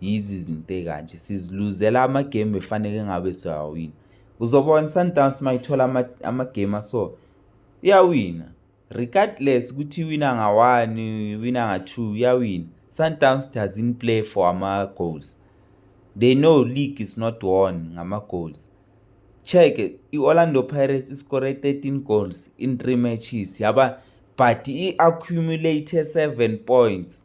yizi zinto ekanje siziluzela amagemu befaneke ngabe siyawawina uzobona i-sundowns uma ithola amagemu aso iyawina regardless ukuthi iwina nga-one iwina nga-two iyawina sundowns doesn't play for ama-goals they know league is not won ngama-goals check i-orlando pirates iskore 13 goals in three matches yaba but i-accumulate 7 points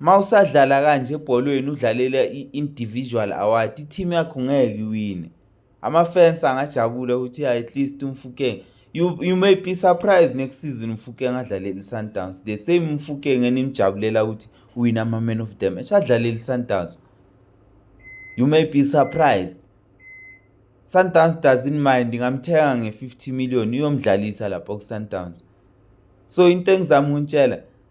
uma usadlala kanje ebholweni udlalela i-individual award i-team yakho ngeke iwine ama-fans angajabula ukuthi ya at least umfukeng you, you may be surprised next season umfukeng adlalele i-sundowns the same umfukeng enimjabulela ukuthi uwine ama-man of the match adlalele i-sundowns you may be surprised sundowns does in mind ngamthenga nge-50 million uyomdlalisa lapho ku-sundowns so into engizama ukunitshela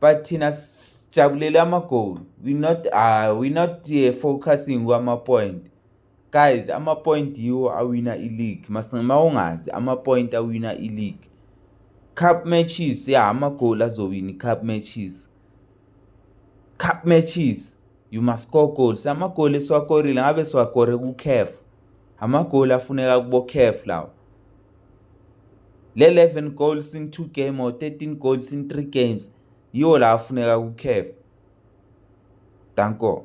but thina sijabulele ama-goal we not uh, we not uh, focusing kwama-point guys ama-point yiwo awina i-league ma ungazi ama-point awina i-league cup matches ya amagoli azowina i-cup matches cup matches you must score goals amagoli esiwakorile ngabe siwakore ku-caf amagoli afuneka kubo-caf lawo le-11 goals in two game or 13 goals in three games yiwo la afuneka ku-caf danko